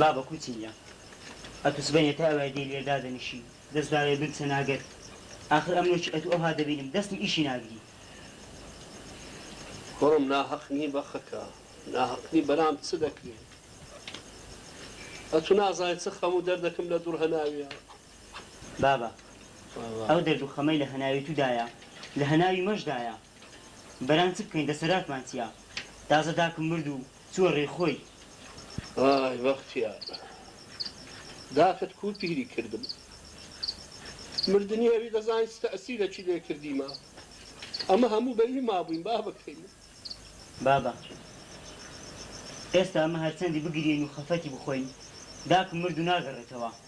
بابە کوچم جا ئەتوو سبەینێ تا ئەوای دێی لێ دادەنیشی دەست داوێ بمچە ناگەر ئاخر ئەمنۆکی ئەتوو ئەوها دەبینم دەستم ئیشی ناگری. کوڕم ناهەق نی بەخەکە ناهەق نی برام چ دەکرێ ئەتوو نازانی چ خەم و دەردەکم لە دوڕ هەناویە. بابە ئەو دەرد و خەمەی لە هەناوی تو دایە لە هەناوی مەش دایە. بران چ بکەین دەسەراتمان چیە تازە داکم مرد و چوە رێی خۆی. ئای بەختیار داکت کو پیری کردم مردنی ئەوی دەزانیت تەئسیرەکی لێ کردیمە ئەمە هەموو بە ی مابووین بابەکەی من. بابە ئێستا ئەمە هەرچەندی بگریین و خەفەتی بخۆین داکم مرد و ناگەڕێتەوە.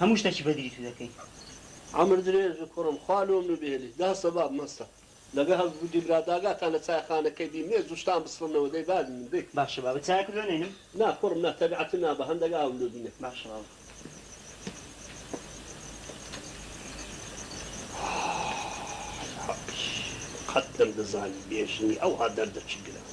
هەموو شتەکی بەدری تو دەکەین. عەمر درێژ بی کوڕم خوا لۆم نبێنی دا سەباب مەستە لەگە هەل بودی برا داگاتان لە چای خانە کەی بی مێز و شتان بسڕنەوە دەی باش بی من بی. باشە بابە چایەکت لۆ نەینم. نا کوڕم نا تەبعەتم نابا هەندەک ئاوم لۆ بینە. باشە بابە. ئاخ ئاخ ئاخ قەت نەمدەزانی بێژنی ئەوها دەردە چ گرانە.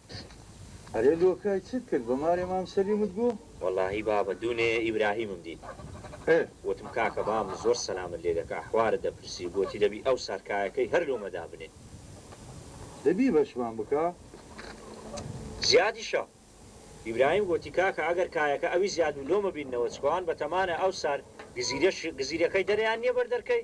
ئەرێ لۆکای چت کرد بە مارێ مام سەلیمت گوو. وەڵاهی بابە دوونێ ئیبراهیمم دیت وتم کاکە بابم زۆر سەلامت لێ دەکا حوارت دەپرسی گۆتی دەبی ئەو سارکایەکەی هەر لۆمە دابنێ. دەبی بەشمان بکا. زیادیشە ئیبراهیم گۆتی کاکە ئەگەر کایەکە ئەوی زیاد بوو لۆمە بیننەوە چکۆ ئەوان بەتەمانە ئەو سار گزیرەش گزیرەکەی دەرێیان نیە بەر دەرکەی.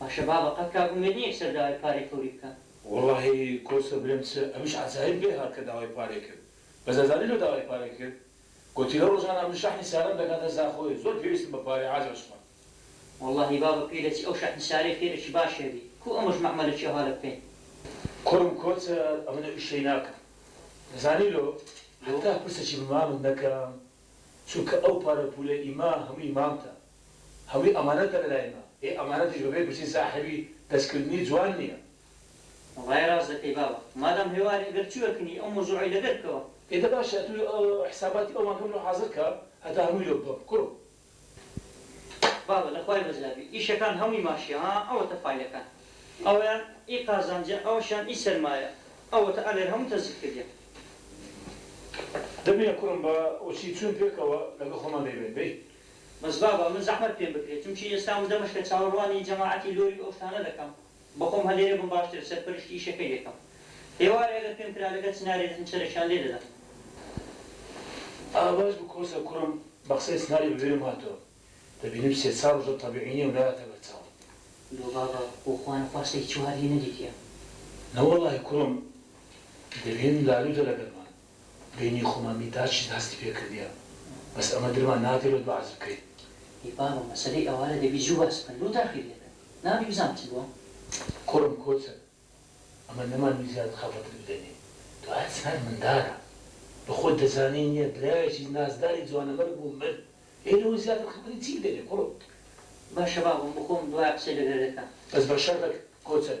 باشە بابە قەت کاک ئومێد نیە کسەر داوای پارەی فەوری بکا. وەڵاهی کۆسرە برێم چ ئەمیش عەجایب لێ هات کە داوای پارەی کرد بەس ئەزانی لۆ داوای پارەی کرد گۆتی لەو ڕۆژانە من شەحنی سارەم دەکاتە زاخۆێ زۆر پێویستم بە پارەیە عاجل شمە. وەڵاهی بابە پێی دەچی ئەو شەحن سارەی پێ دەچی باشێ بی کو ئەمەش مەعمەلە چیە هالە بکەین. کوڕم کۆچە ئەمن ئەو ئیشەی ناکەم دەزانی لۆ حەتا پرسەکی بە مامت نەکەم چونکە ئەو پارە پولە ئیمە هەموی مامتە هەمووی ئەمانەتە لە لای من. ئێ ئەمانەتیش بەبێ گرتنی ساحێبی دەستکردنی جوان نییە. وەڵای ڕاست دەکەی باوە. مادام هێواری ئەگەر چی وەرکنی ئەو مەوزوعەی لەبیر بکەوە. ئێ دە باشە ئەتوو حساباتی ئەومان کەم لۆ حازر کە هەتا هەمووی لۆ بگۆم کوڕم. بابە لە خوای بەزیاد بی ئیشەکان هەمووی ماشیە ها ئەوەتە فایلەکان ئەویان ئی قازانجە ئەوەشیان ئی سەرمایە ئەوەتە ئەلێر هەموو تەزیف کردیان. دەبینە کوڕم با وەچی چووین پێکەوە لەگەڵ خۆمان دەیبەین بەی. بەس بابە من زەحمەت پێم بکرێ چونکی ئێستا وردە مەشکە چاوەڕوانی جەماعەتی لۆری و ئەو شتانە دەکەم بەخۆم هەلێرێ بم باشترە سەرپەرشتی ئیشەکەی دەکەم ئێوارێ ئەگەر پێم کرا لەگەر چنارێ دەچم چەرەکیان لێ دەدەم. ئا باش بوو کۆسە کوڕم بە قسەی چناری بە بیرم هاتەوە دەبینم سێ چار ڕۆژە تەبیعی نیە و نایەتە بەر چاوم. لۆ بابە بۆ خوا نەخوا سەگی چوار هی نەدیتیە. نەوەڵاهی کوڕم دەبینم لالوتە لەگەرمان بینی خۆمان بی تا چیت هەستی پێ کردیە بەس ئەمە درمان ناکەوێت بە عەزف کەی. ئەی بابە مەسەلەی ئەوارە دەبی زوو باس بکەن لۆ تاخیر دەکەن نابی بزانم چ بووە. کوڕم کۆچن ئەمە نەمانی زیاد خەفەتت بدەنێ تۆ ئەتزانی مندارە بە خۆت دەزانی نیە برایەکی نازداری جوانەمەرگ بوو مرد ئێ لەوە زیاتر خەفەتی چی بدەنێ کوڕم. باشە بابم بخۆم دوای قسەی لەگەر دەکەم. بەس بە شەرتەک کۆچن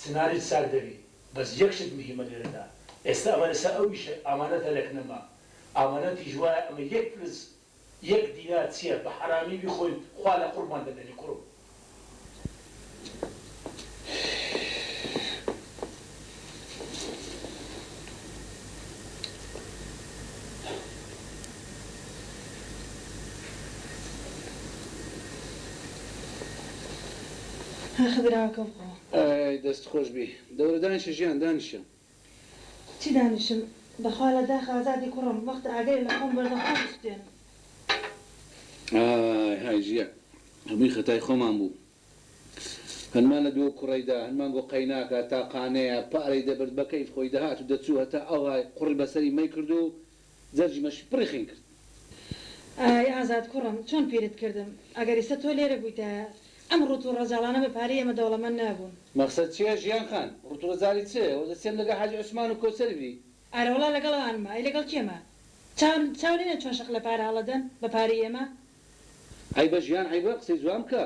چنارت ساغ دەبی بەس یەک شت مهیمە لێرەدا ئێستا ئەمە لەسەر ئەو ئیشە ئامانەتە لەک نەما ئامانەتیش وایە ئەمە یەک فلس یەک دینار چیە بە حەرامی بیخۆین خوا لە قوڕمان دەمێنی کوڕم. ئای دەست خۆش بی دەورە دانیشە ژیان دانیشە. چی دانیشم بەخوا لە داخ ئازادی کوڕم وەختە ئاگرێ لە خۆم بەردە خۆم سوتێن. ئای های ژیان هەمووی خەتای خۆمان بوو هەنمان لە دوو کوڕەی دا هەنمان بۆ قەیناکە تاقانەیە پارەی دەبرد بەکەیف خۆی دەهات و دەچوو هەتا ئەوهای قوڕی بەسەری مەیکرد و جەرگمەشی پڕی خوێن کرد. ئای ئازاد کوڕم چۆن پیرت کردم، ئەگەر ئیسە تۆ لێرە بوویتایە، ئەم ڕووت و ڕەجاڵانە بە پارەی ئێمە دەوڵەمەند نابوون. مەقسەد چیە ژیان خان؟ ڕووت و ڕەجاڵی چ؟ وە دەچێم لەگەڵ حاجی عوسمان و کۆسەر بی. ئارەوەڵا لەگەڵ ئەوانمە. ئەی لەگەڵ کێمە؟ چاو چاو لێنە چۆن شەق لە پارە هەڵە دەن بە پارەی ئێمە. عەیبە ژیان عەیبە، قسەی جوان بکە.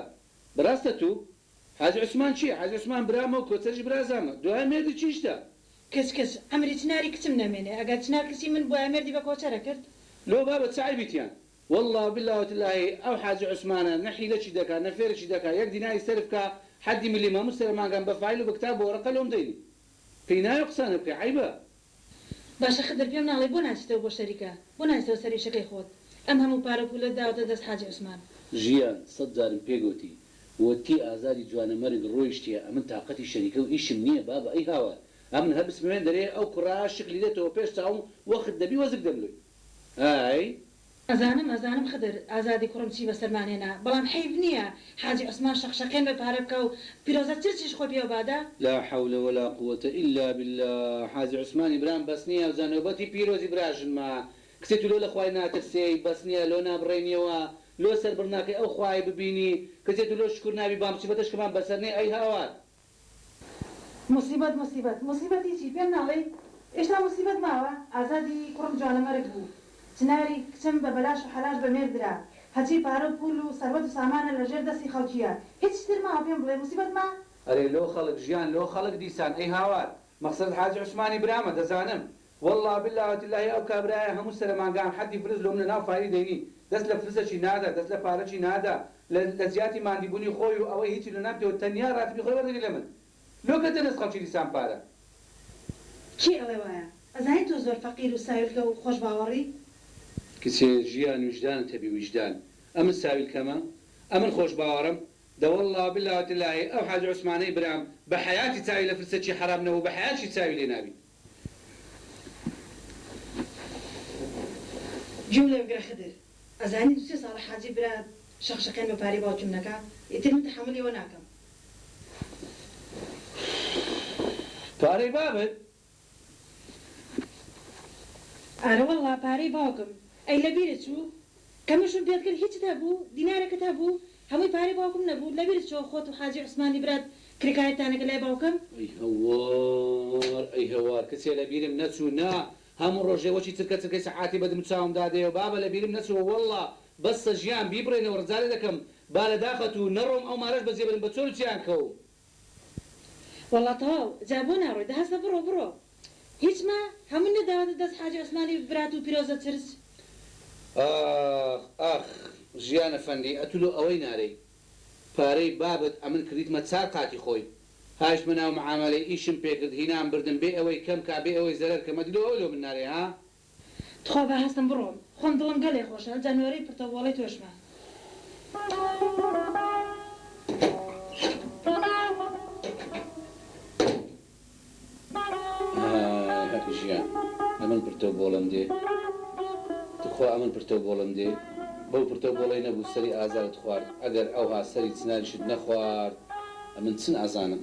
بەراستە توو؟ حاجی عوسمان چی؟ حاجی عوسمان برامە و کۆسەریش برازامە. دوایە مێردی چی شتە؟ کچ کچ عەمری چناری کچم نەمێنێ ئەگەر چنار کچی من بوایە مێردی بە کۆچەرە کرد. لۆ بابە چ عەیبی تیان. واللە و باللە و تللەهی ئەو حاجی عوسمانە نە حیلە چی دەکا نە فێرە چی دەکا یەک دیناری سەرف کا حەدی ملی ماموس ترە مانگان بە فایل و بە کتاب بەوەرەقە لۆم دەینی پێی نایە قسانە بکەی عەیبە. باشە خدر پێم ناڵێی بۆ ناچیتەوە بۆ شەریکە بۆ ناچیتەوە سەر ئیشەکەی خۆت ئەم هەموو پارە و پولەت داوەتە دەست حاجی عوسمان. ژیان سەد جارم پێ گۆتی ووتی ئازادی جوانە مەرگ ڕۆیشتیە ئەمن تاقەتی شەریکەو ئیشم نیە بابە ئەی هاوار ئەمن هەر بسموێن دەرێ ئەو کوڕە شکلی دێتەوە پێش چاوم وەخت دەبی وەزک دەملۆی ئای. ئەزانم ئەزانم خدر ئازادی کوڕم چی بەسەرمان هێنا بەڵام حەیف نیە حاجی عوسمان شەق شەقێن بە پارە بکا و پیرۆزە چرچیش خۆی پێوە بادە. لا حول ولا قووەتە الا باللە حاجی عوسمانی برام بەس نیە ئەوجا نۆبەتی پیرۆزی براژنمە کچێ تو لۆ لە خوای ناترسێی بەس نیە لۆ نابڕێنیەوە لۆ سەر بڕناکەی ئەو خوایەی ببینی کچێ تو لۆ شکور نابی بام مصیبەتە شکمان بەسەر نێ ئەی هاوار. موسیبەت موسیبەت موسیبەت هیچی پێم ناڵێی ئێشتا موسیبەت ماوە ئازادی کوڕم جوانەمەرگ بوو چناری کچم بە بەلاش و حەلاش بە مێرد درا هەرچی پارە و پوول و سەروەت و سامانە لە ژێر دەستی خەڵکیە هیچ شتر ماوە پێم بڵێ موسیبەت ما. ئەرێ لۆ خەڵک ژیان لۆ خەڵک دیسان ئەی هاوار مەقسەدت حاجی عوسمانی برامە دەزانم وەڵا باللە وتللەهی ئەو کابرایە هەموو سەرە مانگان حەدی فرز لۆ منە ناو فاری دەینی دەست لە فرزەچی نادا دەست لە پارەچی نادا لە لە جیاتی ماندی بونی خۆی و ئەوەی هیچی لۆ ناکتەوە تەنیا راتبی خۆی وەردەگری لە من لۆ کەتە دەست خەڵکی دیسان پارە کێ ئەڵێ وایە ئەزانی تۆ زۆر فەقیر و ساویلکە و خۆش باوەڕی. کچێ ژیان ویژدانت هەبی ویژدان ئەمن ساویلکەمە؟ ئەمن خۆش باوەڕم؟ دە وەڵا و باللە و تللەهی ئەو حاجی عوسمانەی برام بە حەیاتی چاوی لە فرسەچی حەرام نەبوو بە حەیاتشی چاوی لێ نابی. گوێم لە بگرە خدر ئەزانی دوو سێ ساڵە حاجی برا شەق شەقێن بە پارەی باوکیم دەکا ئیتر من تەحەمولی ئەوە ناکەم. پارەی بابت؟ ئارەوەڵڵا پارەی باوکم ئەی لەبیرت چوو ئەمە ژن پێت کرد هیچت هەبوو دینارەکت هەبوو هەمووی پارەی باوکم نەبوو لەبیرت چۆ خۆت و حاجی عوسمانی برات کرێکارتان ئەکرد لای باوکم. ئەی هەوار ئەی هەوار کچێ لەبیرم نەچوو نا هەموو ڕۆژێ وەکی چرکە چرکەی سەعاتی بە دم چاوم دادەیەو بابە لەبیرم نەچووە وەڵڵا بەسە ژیان بیبڕێنەوە ڕجالە دەکەم با لە داخت و نەڕۆم ئەو مارەش بەجێبرم بە چۆل و چیان کەوم. وەڵا تەواو جا بۆ ناڕۆی دە هەستە بڕۆ بڕۆ هیچ مە هەموو نەداوەتە دەست حاجی عوسمانی برات و پیرۆزە چرچ. ئاخ ئاخ ژیان ئەفەندی ئەتو لۆ ئەوەی نارێی پارەی بابت ئەمن کردیتمە چار قاتی خۆی هایشتمە ناو معامەلەی ئیشم پێکرد هینام بردم بێ ئەوەی کەم کا بێ ئەوەی زەرەر کەم ئەدی لۆ ئەوە لۆ من نارێی ها تخوا با هەستم بڕۆم خۆم دڵم گەلێ خۆشە جا نۆرەی پرتە وۆڵەی تۆشمە. ئای هەق ژیان ئەمن پرتەو بۆڵەم دێ تخوا ئەمن پرتەو بۆڵەم دێ بەو پرتەو بۆڵەی نەبوو سەری ئازارت خوارد ئەگەر ئەوها سەری چناریشت نەخوارد ئەمن چن ئەزانم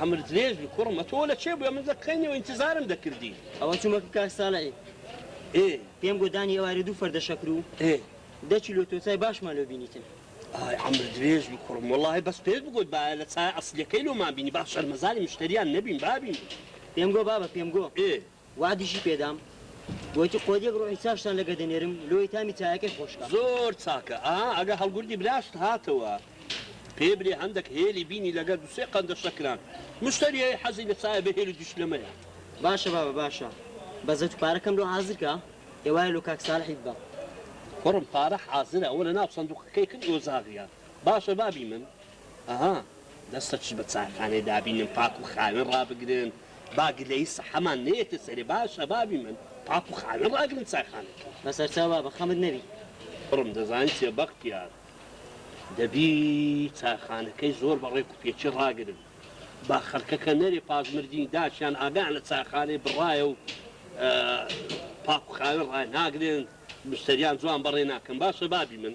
عەمر درێژ بی کوڕم ئەتۆ لە کێ بوێ من لە کەینەوە ئینتزارم دەکردی. ئەوە چومە کە کاک ساڵحی ئێ. پێم گۆ دانی ئێوارێ دوو فەردە شەکر و ئێ. دە کیلۆ تۆتای باشمان لۆ بینیتن. ئای عەمر درێژ بی کوڕم وەڵاهی بەس پێت بگۆت بایە لە چایە ئەسلیەکەی لۆمان بینی با شەرمەزاری مشتەریان نەبین بابین. پێم گۆ بابە پێم گۆ. ئێ. وەعدیشی پێدام گۆتی قۆریەک ڕۆحی چاشتان لەگە دەنێرم لۆیی تامی چایەکەی خۆشکا. زۆر چاکە ئا ئەگە هەڵگوردی براشت هاتەوە پێ برێ هەندەک هێلی بینی لەگە دوسێ قەندە شەکران مشتەریەی حەزی لە چایە بە هێلو دوشلەمەیە. باشە بابە باشە بەزەتو پارەکەم لۆ حازرکە ئێوارە لۆ کاک سالحی ببە. کوڕم پارە حازرە ئەوە لەناو سەندوقەکەی کرد ئۆزاغیان. باشە بابی من ئەها دەست خۆش بە چایخانەی دابینن پاک و خاوێن ڕابگرن با گلەیی سەحەمان نەیەتە سەرێ با شەبابی من پاک و خاوێن ڕاگرن چایخانەکە. بەسەرچاو بابە خەمت نەبی. کوڕم دەزانی چیە بەختیار دەبی چایخانەکەی زۆر بە ڕێک و پێکی ڕاگرن با خەلکەکە نەرێ پاش مردنی داکیان ئاگایان لە چایخانەی بڕایە و پاک و خاوێن ڕای ناگرن مشتەریان جوان بەڕێ ناکەن با شەبابی من.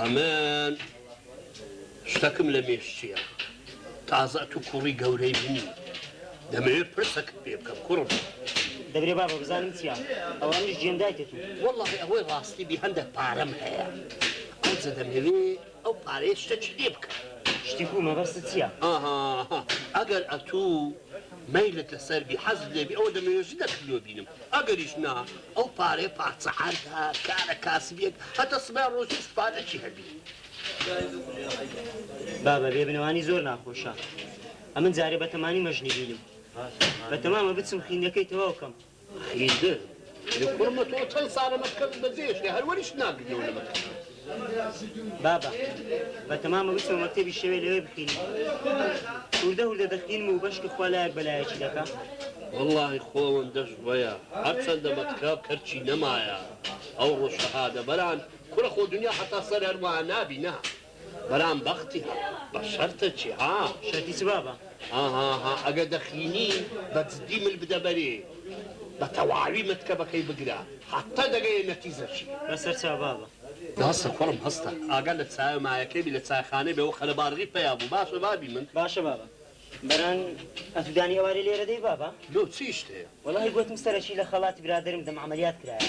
ئەمن شتەکم لە مێشچیە تازە تو کوڕی گەورەی منی دەمەوێت پرسەکت پێ بکەم کوڕم دەبێ بابە بزانم چیا ئەوانش جێندایتێت وەڵی ئەوەی ڕاستی بی هەندێک پارەم هەیە ئەوجە دەمەوێ ئەو پارێ شتە چ لێ بکە شتی بوومە بەست چییە ئەگەر ئەتوو مەیلتە سەربی حەزت لێبی ئەوە دەمەوێ ژنە کلیۆ بینم ئەگەریش نا ئەو پارەیە پارچە عەردە کارە کاسبیەک هەتە سبەی ڕۆژی استفادەکی هەبی. بابە بێ بنەوانی زۆر ناخۆشە ئەمن جارێ بەتەمانی مەژنی بینم بەتەمامە بچم خویندنەکەی تەواو کەم. خیزر کوڕمە تۆ چەند ساڵە مەشکەت بەجێشتێ هەر وەریشت ناگرنەوە لە مەکتەب بابە بە تەمامە ویستەوە مەکتەبی شەوێ لەوێ بخینم هوردە هوردە دەخینم و بەشکی خوا لایەک بەلایەکی دەکا وڵی خۆوەن دەشت وەیە هەرچەندە مەتکاب کەرچی نەمایە ئەو ڕۆژ شەهادە بەران کورە خۆ دنیا هەتا سەر هەروە نابی نا. برام بەختی ها بە شەرتە چی ها. شەرتی چ بابە. هاهاها ئەگە دەخینی بە جدی مل بدە بەرێ بە تەواوی مەتکەبەکەی بگرە حەتە دەگەیە نەتیزە چی. بە سەر چا بابە. باسە کوڕم هەستە ئاگا لە چایە مایەکەی بی لە چایخانەی بێ وە خەرە بارغی پەیا بوو باشە بابی من. باشە بابە بەران ئەتو دانی ئەوارێ لێرە دەی بابە. لۆ چی شتێ. وەڵاهی گۆتم سەرەکی لە خەڵاتی برادەرم دەم عەمەلیات کرایە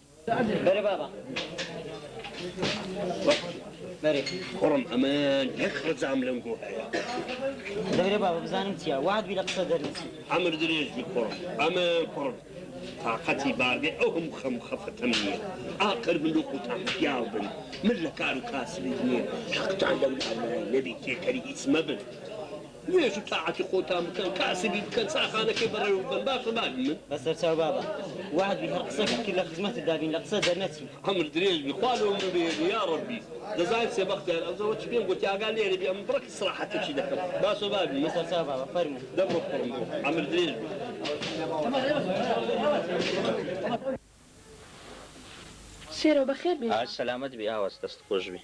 بەرێ بابە بەرێ کوڕم ئەمان یەک ڕەجام لەم گۆ هەیە دەبرێ بابە بزانم چیە وات بی لە قسە دەرنچی ئەمر درێژ بی کوڕم ئەمە کوڕم تااقەتی بارگەی ئەو هەموو خەم خەفەتەم نییە ئاقر من لۆ قوتان پیاو بن من لە کار و کاسبی نییە حەقتان لەم ناوایە نەبی تێکەری هیچ مەبن نوێژ و تاعەتی خۆتان بکەن کاسبی بکەن چاخانەکەی بەڕێوە ببەن باشە بابینن. بەسەر چاو بابە وەعد بی هەر قسەکت کرد لە خزمەتت دابین لە قسە دەرنەچین. عەمر درێژ بی خوا لەو مرۆڤە یەبی یاڕەبی دەزانیت سێ بەختیار ئەوزە وەچی پێم گۆتی ئاگا لێرە بی ئەمن بڕەک ئیسراحەتەکی دەکەم باشە بابینن. بەسەر چاو بابە فەرموو. دەم بخۆم بۆ عەمر درێژ بی. سێرۆ بەخێر بێیەوە. ئای سەلامەت بی ئاوس دەست خۆش بی.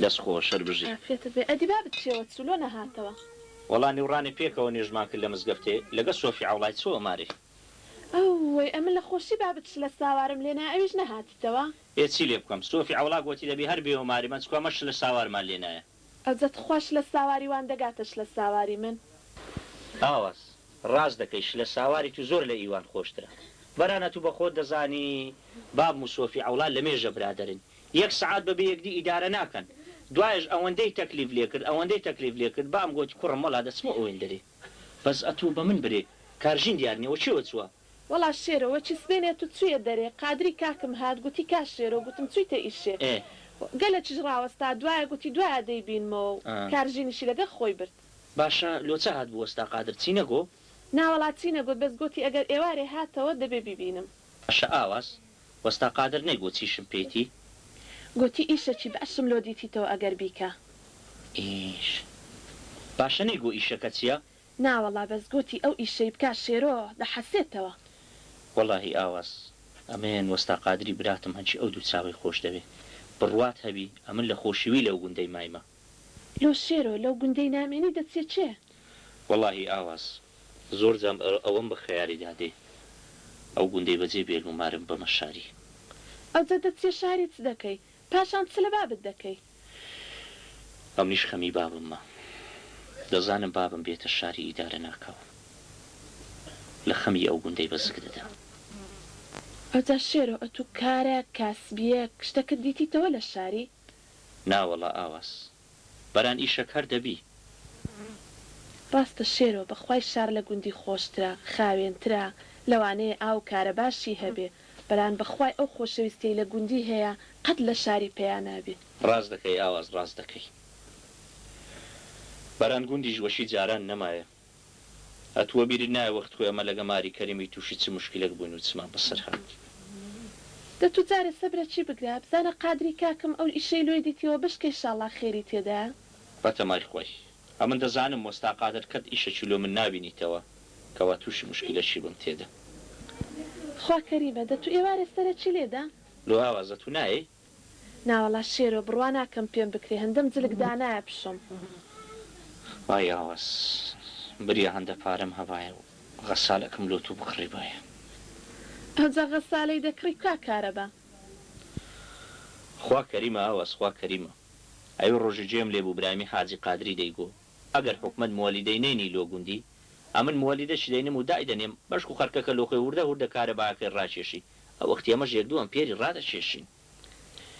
دەست خۆش هەر بژی. ئافیەتت بێ ئەدی بابت چیەوە چوو لۆ نەهاتەوە. وەڵا نیوڕانێ پێکەوە نوێژمان کرد لە مزگەفتێ لەگە سۆفی عەوڵای چووە مارێ. ئەوەی ئەمن لە خۆشی بابت شلە ساوارم لێ نایە ئەویش نەهاتیتەوە. ئێ چی لێ بکەم سۆفی عەوڵا گۆتی دەبی هەر بێیەوە مارێ مەنچکۆ ئەمە شلە ساوارمان لێ نایە. ئەجەت خوا شلە ساواری وان دەگاتە شلە ساواری من. ئاوس ڕاست دەکەی شلە ساواری تو زۆر لە ئیوان خۆشترە برانە تو بەخۆت دەزانی باب موسۆفی عەوڵا لەمێژە برادەرن یەک سەعات بەبێ یەکدی ئیدارە ناکەن دوایەش ئەوەندەی تەکلیف لێکرد ئەوەندەی تەکلیف لێکرد بام گۆتی کوڕم وەڵا دەچمە ئۆێندەرێ بەس ئەتو بەمن برێ کارژین دیار نیە وەکێوە چوە وەڵا شێرۆ وە چی سبێنێ تو چویە دەرێ قادری کاکم هات گوتی کا شێرۆ گوتم چویتە ئیشێ گەلە چش ڕاوەستا دوایە گوتی دوایە دەی بینمەوە و کار ژینیشی لەگەر خۆی برد. باشە لۆ چ هات بوەستا قادر چی نەگۆ؟ ناوەڵا چی نەگۆت بەس گۆتی ئەگەر ئێوارێ هاتەوە دەبێ بیبینم. باشە ئاواز وەستا قادر نەیگۆ چیشم پێیتی؟ گۆتی ئیشە چی باشم لۆ دیتیتەوە ئەگەر بیکە. ئیش باشە نەیگۆ ئیشەکە چیە؟ ناوەڵا بەس گۆتی ئەو ئیشەی بکا شێرۆ دەحەسێتەوە. وەڵاهی ئاواز ئەمەیەن وەستا قادری براتم هەرچی ئەو دوو چاوەی خۆش دەوێ بڕوات هەبی ئەمن لە خۆشیی لەو گوندەی مایمە. لۆ شێرۆ لەو گوندەی نامێنی دەچێ چێ. وەڵاهی ئاواز زۆر جام ئەوەم بە خەیاری دا دێ ئەو گوندەی بەجێ بێلم و مارم بەمە شاری. ئەوجە دەچیە شاری چ دەکەی پاشان چ لە بابت دەکەی. ئەمنیش خەمی بابم مە دەزانم بابم بێتە شاری ئیدارە ناکاو لە خەمی ئەو گوندەی بە زگ دەدا. ئەوجا شێرۆ ئەتوو کارەک کاسبیەک شتەکت دیتیتەوە لە شاری؟ ناوەڵا ئاواز بەران ئیشەک هەر دەبی. ڕاستە شێرۆ بەخوای شار لە گوندی خۆشترە خاوێنترە لەوانەیە ئاو کارەباشی هەبێ بران بەخوای ئەو خۆشەویستیەی لە گوندی هەیە قەت لە شاری پیا نابی. ڕاست دەکەی ئاواز ڕاست دەکەی. بران گوندیش وەشی جاران نەمایە ئە توە بیرت نایە وەخت خۆی ئەمە لەگە ماری کەریمی توشی چ موشکیلەک بوین و چمان بەسەر هات. دە تو جارێ سەبرە چی بگرە بزانە قادری کاکم ئەو ئیشەی لۆی دیتیەوە بشکێ شاڵا خێری تێدایە. بەتەمای خۆی ئەمن دەزانم وەستا قادر کەت ئیشەکی لۆ من نابینیتەوە کوا توشی مشکیلە چی بم تێدا. خوا کەریمە دە تو ئێوارێ سەرە چی لێدا. لۆ ئاوازە تو نایەی. ناوەڵا شێرۆ بڕوا ناکەم پێم بکرێ هندەم جلک دانایە پشم. ئای ئاواز بریا هەندە پارەم هەبایە و غەسالەکم لۆ تو بکڕیبایە. ئەوجا غەسالەی دەکڕی کوا کارەبا. خوا کەریمە ئاواز خوا کەریمە. ئەوی ڕۆژی جێم لێبوو برامی حاجی قادری دەیگۆ ئەگەر حوکمەت موەلیدەینەینی لۆ گوندی، ئەمن موەلیدەشی دەینم و دایدەنێم، بەشکو خەرکەکە لۆ خۆی هوردە هوردە کارەباکەی ڕاکێشی، ئەوەختی ئەمەش یەک دوو ئەمپێری ڕادەکێشین.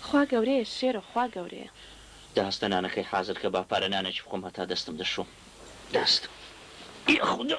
خوا گەورەیە شێرۆ خوا گەورەیە. داستە نانەکەی حازر کە با پارە نانەکی بخۆم هەتا دەستم دەشۆم داستە. یاخودا.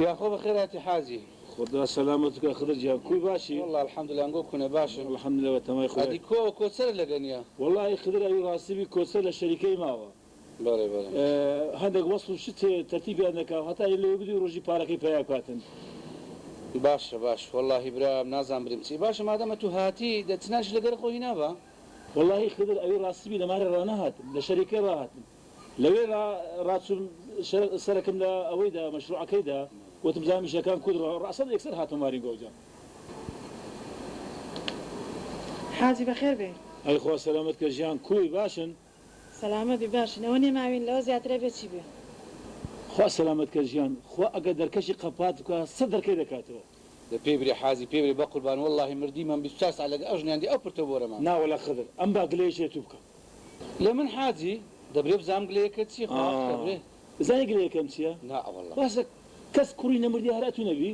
یاخوا بەخێر هاتی حاجی. خودا سەلامەت کا خدر گیان کوی باشی. واللە الحمدللە ئەنگۆ کونە باشم. الحمدللە بە تەمای خودای. ئەدی کو ئەو کۆچەرە لەگە نیە. وەڵاهی خدر ئەوی ڕاستی بی کۆچەر لە شەریکەی ماوە بەڵێ بەڵێ هەندەک وەسف و شت هەیە تەرتیبیان نەکاو هەتا یە لەوێ بدوی ڕۆژی پارەکەی پەیا بکاتن. باشە باش وەڵاهی برام نازانم بریم چی باشە مادام ئەتو هاتی دە چ نانیش لەگەر خۆ هینا بە. وەڵاهی خدر ئەوی ڕاستی بی لەمارە ڕانەهات لە شەری کەی ڕاهاتم لەوێ ڕا ڕاچوم شە سەرەکم لە ئەوەی دا مەشروعەکەی دا وتم جا میشەکان کورد ڕا ڕاسەن ئێکسەر هاتمە مارین گەوجە. حاجی بەخێر بێی. ئەی خوا سەلامەت کە ژیان کوی باشن. سەلامەت بی باشین ئەوە نێماوین لەوە زیاتر ئەبێ چی بێ. خوا سەلامەت کە ژیان خوا ئەگەر دەرکەشی قەپات بکا سەد دەرکەی دەکاتەوە. دە پێی برێ حازی پێی برێ بەقوربان وەڵاهی مردیمم بیست و چار سەعات لەگە ئەو ژنە ئەندی ئەو پرتە بۆرەمە. نا وەلا خدر ئەم با گلەیەش لەتوو بکا. لە من حاجی؟ دەبرێ بزانم گلەیەکە چیە خۆ ئاخ دەبرێ. ئەزانی گلەیەکەم چیە؟ نا وەڵا. باشە کەس کوڕی نەمردی هەر ئەتوو نەبی؟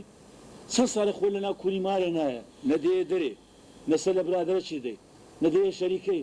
چەن ساڵێ خۆ لەناو کوری مارێ نایە نە دەیە دەرێ نە سەر لە برادەرەکی دەدەی نە دەیە شەریکەی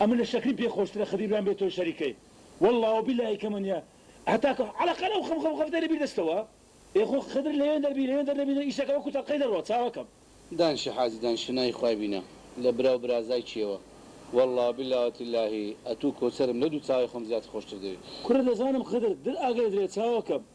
ئەمن لە شەکری پێ خۆشترە خدر بیان بێ تۆی شەریکەی واللە و باللە ی کەمە نیە هەتا کە عەلەقەل ئەو خەم خەم خەفتەی لە بیر دەچتەوە ئێ خۆ خدر لەوێن دەربی لەوێن دەر نەبی ئیشەکە وەکو تەڵقەی دەڕوا چاوە کەم. دانشە حاجی دانشە ناوی خوای بینە لە برا و برازای کێوە واللە و باللە و تللەهی ئەتوو کۆچەرم لەو دوو چاوەی خۆم زیاتر خۆشتر دەوێ. کوڕە دەزانم خدر در ئاگرە درێ چاوە کەم.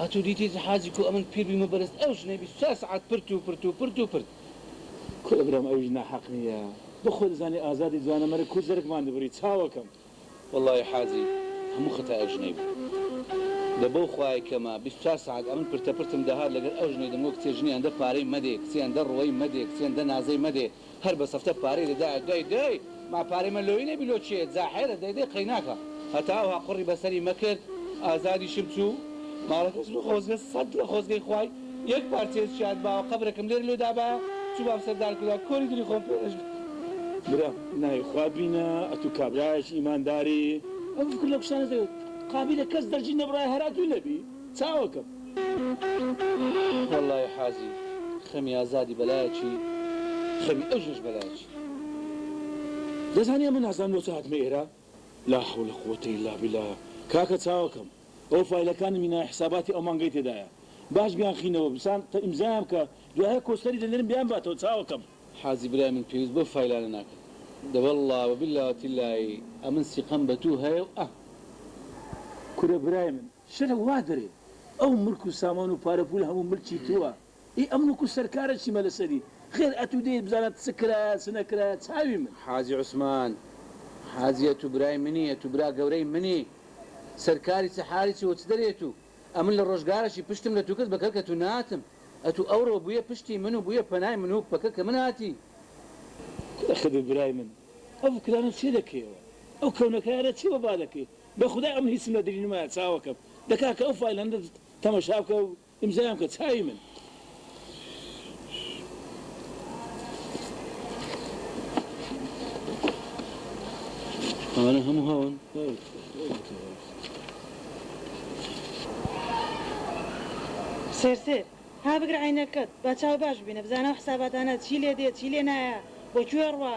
ئەتو دیتیت حاجی کو ئەمن پیر بیمە بەرز ئەو ژنەی بیست و چوار سەعات پرت و پرت و پرت و پرت. کوڕە برام ئەویش ناحەق نیە بۆ خۆ دەزانی ئازادی جوانەمەرگ کو زەرگمان دەبری چاوەکەم. وەڵاهی حاجی هەموو خەتای ئەو ژنەی بوو دە بەو خوایە کەمە بیست و چوار سەعات ئەمن پرتە پرتم دەهات لەگەر ئەو ژنەی دەمگۆ کچێ ژنیان دە پارەی مەدێ کچیان دە ڕوەی مەدێ کچیان دە نازەی مەدێ هەر بە سەفتە پارەی دەدایە دەی دەی ما پارەی مە لۆی نەبی لۆ چێ جاحێرە دەی دەی قەیناکە هەتا ئەوها قوڕی بە سەری مە کرد ئازادیشم چوو ماڵەکەش بە خۆزگە سەد لە خۆزگەی خوای یەک پارچەیەش شاد باوە قەبرەکەم لێرە لۆ دابایە چووبام سەر دار کولا کۆری دری خۆم پێ نەشکا. برا ناوی خوا بینە ئەتوو کابرایەکی ئیمانداری ئەو فکر لە کوشتنت قابیلە کەس دەرجی نەبڕایە هەر ئەتوو نەبی. چاوەکەم. وەڵڵایی حاجی خەمی ئازادی بەلایەکی خەمی ئەژنۆش بەلایەکی. دەزانی ئەمە نازانم لۆچ هاتمە ئێرە؟ لا حول قووەتە ئیلا بیلا کاکە چاوەکەم ئەوە فایلەکانی مینای حساباتی ئەو مانگەی تێدایە باش بیان خینەوە بسان تە ئیمزایان بکە دوایە کۆستەری دەنێرم بیان باتەوە چاوەکەم. حاجی برای من پێویست بەو فایلانە ناکەم دە واللە وباللە وتللایی ئەمن سیقەم بەتوو هەیە و ئە. کورە برای من شەرع وا دەرێ ئەو ملک و سامان و پارە پولە هەموو ملکی تۆە ئی ئەم ملک و سەرکارە چیمە لەسەری خێر ئەتوو دێیت بزانە چ کرایە چ نەکرایە چاوی من. حاجی عوسمان حاجی ئەتوو برای منی ئەتوو برا گەورەی منی سەرکاری چ حالی چی وە چ دەرێ توو ئەمن لە ڕۆژگارەکی پشتم لە توو کرد بە کەلکە توو ناتم ئەتوو ئەورۆ بویە پشتی من و بویە پەنای من و پەکەکە من هاتی کورە خدر برای من ئەو فکرانە چێ دەکەیەوە ئەو کەونەکایانە چێ وەبا دەکەی بەخودا ئەم هیچم لە دلینمایە چاوەکەم دەکا کە ئەو فایلەنە تەمەشا بکە و ئیمزایان بکە چاوی من. ئەمانە هەموو هەون. سێر سێر ها بگرە عەینەکەت با چاو باش ببینە بزانە ئەو حساباتانە چی لێ دێ چی لێ نایە بۆ کوێ ڕوا.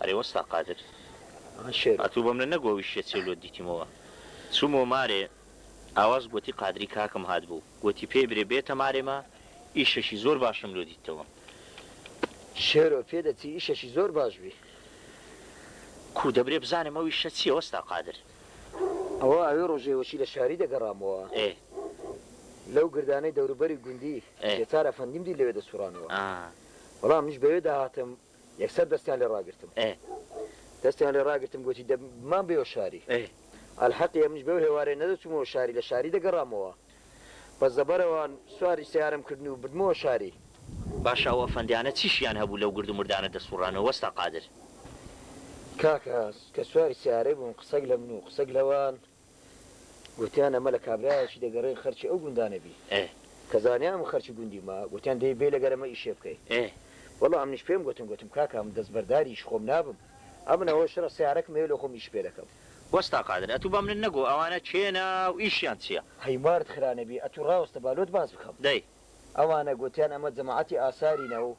ئەرێ وەستا قادر ئەتوو بەمنە نەگۆویشیە چێ لۆت دیتیمەوە چوومەوە مارێ ئاواز گۆتی قادری کاکم هاتبوو گۆتی پێی برێ بێتە مارێ مە ئیشەشی زۆر باشم لۆ دیتەوە. شێرۆ پێدەچی ئیشەکی زۆر باش بی. کوو دەبرێ بزانم ئەو ئیشە چیە وەستا قادر. ئەوە ئەوێ ڕۆژێ وەچی لە شاری دەگەڕامەوە ئێ. لەو گردانەی دەوروبەری گوندی ئێ. جەتار ئەفەندیم دی لەوێ دەسوڕانەوە ئا. بەڵام منیش بەوێ دەهاتم یەکسەر دەستیان لێ ڕاگرتم. ئێ. دەستیان لێ ڕاگرتم گۆتی دە بمان بێوە شاری. ئێ. ئەلحەقی ئەمنیش بەو هێوارەیە نەدەچوومەوە شاری لە شاری دەگەڕامەوە. بە زەبەرەوە سواری سەیارەم کردن و بردمەوە شاری. باشە ئەو ئەفەندیانە چی شیان هەبوو لەو گرد و مردانە دەسوڕانەوە وەستا قادر. کاک ئاز کە سواری سەیارەی بووم قسەک لە من و قسەک لەوان گۆتیان ئەمە لە کابرایەکی دەگەڕێ خەرکی ئەو گوندانە بی کە زانیام خەرکی گوندیمە گۆتیان دەی بێ لەگەر ئەمە ئیشێ بکەی وەڵا ئەمنیش پێم گۆتن گۆتم کاکا من دەسبەرداری ئیش خۆم نابم ئەمن ئەوە شڕە سەیارەکم هەیە لۆ خۆم ئیش پێ دەکەم. وەستا قادر ئەتو با منت نەگۆ ئەوانە کێنە و ئیشیان چیە. هەی مارت خرانە بی ئەتو ڕاوستە با لۆت باس بکەم. دەی. ئەوانە گۆتیان ئەمە جەماعەتی ئاسارینە و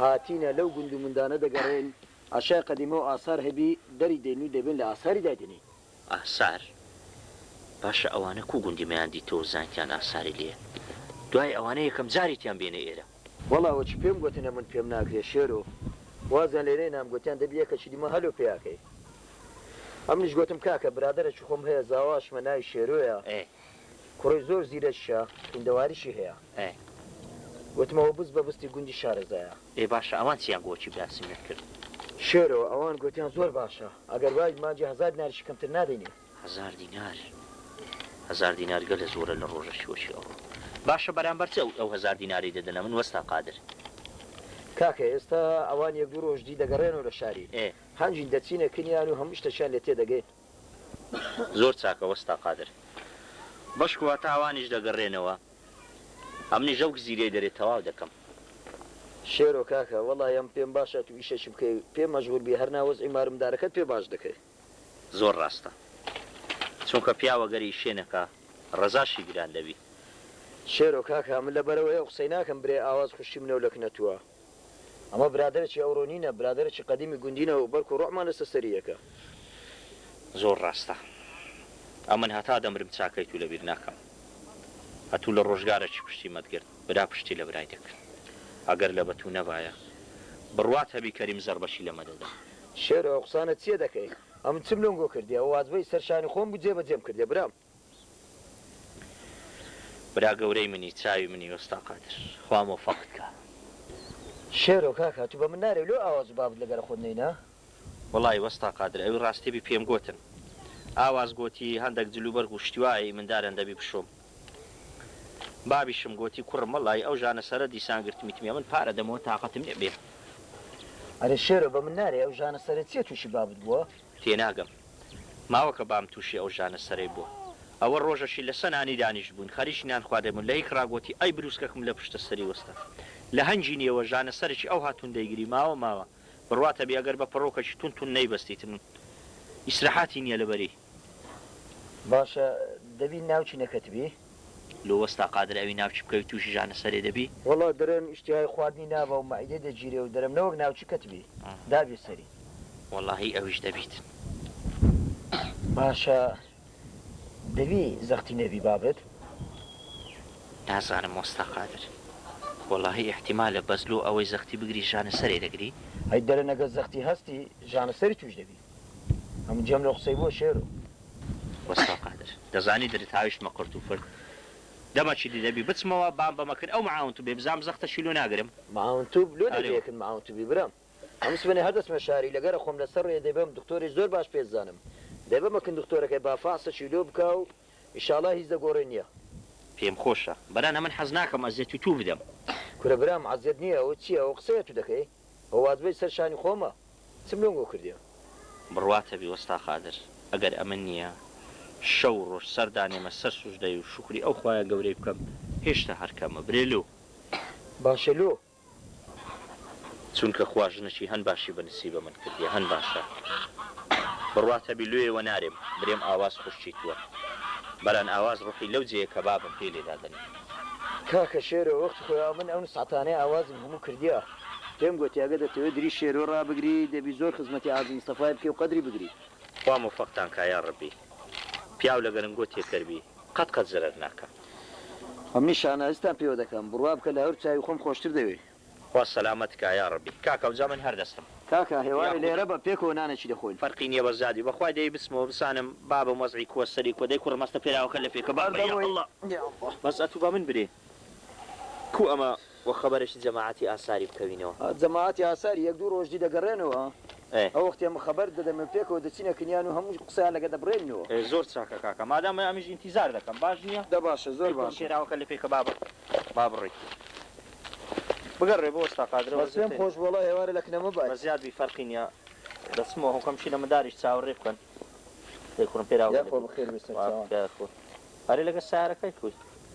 هاتینە لەو گوند و مندانە دەگەڕێین ئەشای قەدیمە و ئاسار هەبی دەری دەین و دەبێن لە ئاساری دایدەنێین. ئاسار؟ باشە ئەوانە کو گوندی مەیان دیتۆ و زانیتیان ئاساری لێیە دوای ئەوانە یەکەم جاریتیان بینە ئێرە؟ وەڵا وەچ پێم گۆتن ئەمن پێم ناکرێ شێرۆ وازیان لێنێ نام گۆتیان دەبی یەکەچی دیمە هەلۆ پێیاکەی ئەمنیش گۆتم کاکە برادەرەکی خۆم هەیە زاواشمە ناوی شێرۆیە کوڕەی زۆر زیرەکیە خویندەواریشی هەیە گۆتم ئەوە بست بە بستی گوندی شارەزایە. ئێ باشە ئەوان چیان بۆ چی باسیمت کرد. شێرۆ ئەوان گۆتیان زۆر باشە ئەگەر وابی مانگی هەزار دیناریشی کەمتر نادەینێ. هەزار دینار هەزار دینار گەلە زۆرە لە ڕۆژە شووەکی ئەوڕۆ باشە بەرامبەر چ ئەو هەزار دینارەی دەدەنە من وەستا قادر. کاکە ئێستا ئەوان یەک دوو ڕۆژ دی دەگەڕێنەوە لە شاری هەنجین دەچینە کنیان و هەموو شتەکیان لێ تێدەگەین. زۆر چاکە وەستا قادر. بەشکو هەتا ئەوانیش دەگەڕێنەوە ئەمنیش ئەو گزیرەی دەرێ تەواو دەکەم. شێرۆ کاکە وەڵای ئەم پێم باشە تو ئیشەکی بکەی پێم مەشغول بی هەرنا وەزعی مارمدارەکەت پێ باش دەکەی. زۆر ڕاستە چونکە پیاوە گەر ئیشێ نەکا ڕەزاشی گران دەبی. شێرۆ کاکە من لەبەرئەوەی ئەو قسەی ناکەم برێ ئاواز خوشکی منەو لەک نەتووە ئەمە برادەرەکی ئەوڕۆ نینە برادەرەکی قەدیمی گوندینە و بەرکو ڕۆحمان لەسەر سەری یەکە. زۆر ڕاستە ئەمن هەتا دەمرم چاکەی تو لەبیر ناکەم ئەتو لە ڕۆژگارەکی پشتی مەت گرت برا پشتی لە برای دەکرد ئەگەر لەبە تو نەبایە بڕوات هەبی کەریم زەڕبەکی لەمە دەدا. شێرۆ ئەو قسانە چیە دەکەی ئەمن چم لۆنگۆ کردی ئەوە وازبەی سەر شانی خۆم بوو جێ بەجێم کردیە برام. برا گەورەی منی چاوی منی وەستا قادر خوا مۆفەقت کا. شێرۆ کاکە تو بە من نارێ و لۆ ئاوا زوو بابت لەگەرە خۆت نەینا. وەڵای وەستا قادر ئەوی ڕاستیبی پێم گۆتن ئاواز گۆتی هەندەک جلوبەرگ و شتیوایەی مندارەن دەبی بشۆم. بابیشم گۆتی کوڕم وەڵایی ئەو ژانە سەرە دیسان گرتمیتمیە من پارە دەمەوە تاقەتم نیە بێ. ئەرێ شێرۆ بە من نارێ ئەو ژانە سەرە چیە توشی بابت بوە؟ تێناگەم ماوە کە بام توشی ئەو ژانە سەرەی بوە ئەوە رۆژەشی لە سەنانی دانیشت بوین خەریکی نان خواردن بوین لە هیک را گۆتی ئەی بروسکەکم لە پشتە سەری وەستا لە هەنگی نیەوە ژانە سەرکی ئەوها تون دەیگری ماوە ماوە برواتە بی ئەگەر بە پەڕۆکەکی تون تون نەیبەستیتم ئیسرەحاتی نیە لە بەری باشە دەبی ناو چی نەکەتبی. لۆ وەستا قادر ئەوی ناو چی بکەوی توشی ژانە سەرێ دەبی. وەڵا درەم ئیشتیهای خواردنی نابا و مەعیدەی دەگیرێ و درەم نەوەک ناو چی کەتبی دابێ سەری. وەڵاهی ئەویش دەبیت. باشە دەبی زەختی نەبی بابت. نازانم وەستا قادر وەڵاهی ئیحتیمالە بەس لۆ ئەوەی زەختی بگری ژانە سەرێ دەگری. هەی درەن ئەگەر زەختی هەستی ژانە سەری توش دەبی. هەموو جێم لۆ قسەی بووە شێرۆ. وەستا قادر دەزانی درت هاویشتمە قرت و فرت دەمە چیدی دەبی بچمەوە بام بەمە کرد ئەو معاون توبێ بزام زەختە شی لۆ ناگرم. معاون توب لۆ ئەرێ. دەبێکن معاون توبی برام هەموو سبەینێ هەر دەچمە شاری لە گەرە خۆم لەسەر ڕێ دەیبەم دکتۆرێ زۆر باش پێ زانم دەیبەمە کن دکتۆرەکەی با فحسە چی لۆ بکا و ئیشاڵا هیچ لە گۆڕێ نیە. پێم خۆشە برانە من حەز ناکەم ئەزێت و توو بدەم. کورە برام عەزێت نیە ئەوە چیە ئەوە قسەیە تو دەکەی. و واز بەی سەر شانی خۆمە چم لۆ گۆ کردیە. بڕواتە بی وەستا قادر ئەگەر ئەمن نیە شەو و ڕۆژ سەر دانێمە سەر سوژدەی و شوکری ئەو خوایە گەورەی بکەم هێشتا هەر کەمە برێ لۆ. باشە لۆ. چونکە خوا ژنەکی هەن باشی بە نسیبە من کردیە هەن باشە بڕواتە بی لۆیە وە نارێم برێم ئاواز خوشکی توە بەران ئاواز ڕوحی لەو جێیە کە بابم پێی لێ دادەنێم. کاکە شێرۆ وەختی خۆیا من ئەو نسعەتانەی ئاوازم هەموو کردیە. پێم گۆتی ئەگەر دەتەوێ دری شێرۆ ڕابگری دەبی زۆر خزمەتی عازم مستەفای بکەی و قەدری بگری. خوا مۆفەقتان کا یا ڕەبی. پیاو لە گەرم گۆ تێکەر بی قەت قەت زەرەر ناکا. ئەمنیش شانازیتان پێوە دەکەم. بڕوا بکە لە هەور چاوی خۆم خۆشتر دەوێی. خوا سەلامەت کا یاڕەبی. کاکە ئەوجا من هەر دەستم. کاکە هێوارێ یاخود. لێرە بە پێکەوە نانێکی دەخۆین. فەرقی نیە بەس جادی. بەخوای دەی بچمەوە بزانم بابم وەزعی کوە سەری کوە دەی کوڕم هەستە پێراوەکە لە پێکە بابە یا اللە. بەس ئەتوو بە من برێ کو ئەمە وە خەبەرەکی جەماعەتی ئاساری بکەوینەوە. جەماعەتی ئاساری یەک دوو ڕۆژ دی دەگەڕێنەوە ئێ. ئەوەختێ من خەبەرت دەدەم و پێکەوە دەچینە کنیان و هەموو قسەیان لەگە دەبڕێنینەوە. ئێ زۆر چاکە کاکە مادام ئەمنیش ئینتیزار دەکەم باش نیە؟ دە باشە زۆر دەی کوڕم باشە. پێراوەکە لە پێکە بابە با بڕی. بگە ڕێ بۆ ئۆستا قادرە وە زێ تە نی. بە زیاد بی فەرقی نیە دە چمە هۆ کە مشیلە مداریش چاوە ڕێ بکەن دە کورم پێ راوە لە بی. ئەرێ لەگەر سەیارە کەی کوی.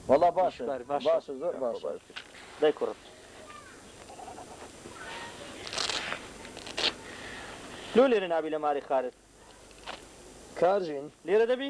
وەڵا باشە باشە زۆر باشە. دە کورم. لۆ لێرە نابی لە ماری خارت. کار ژین. لێرە دە بی.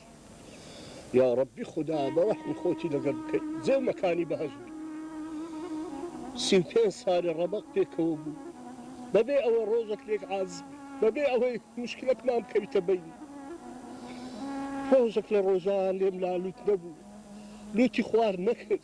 یاڕەبی خودا بەڕەحمی خۆتی لەگەر بکەی جێ و مەکانی بەهەشت بی سی و پێنج سالە ڕەبەق پێکەوە بو بەبێ ئەوە ڕۆژەک لێک عازب بەبێ ئەوەی مشکلەکمان بکەویتە بینی ڕۆژەک لە ڕۆژان لێم لا لوت نەبو لوتی خوار نەکرد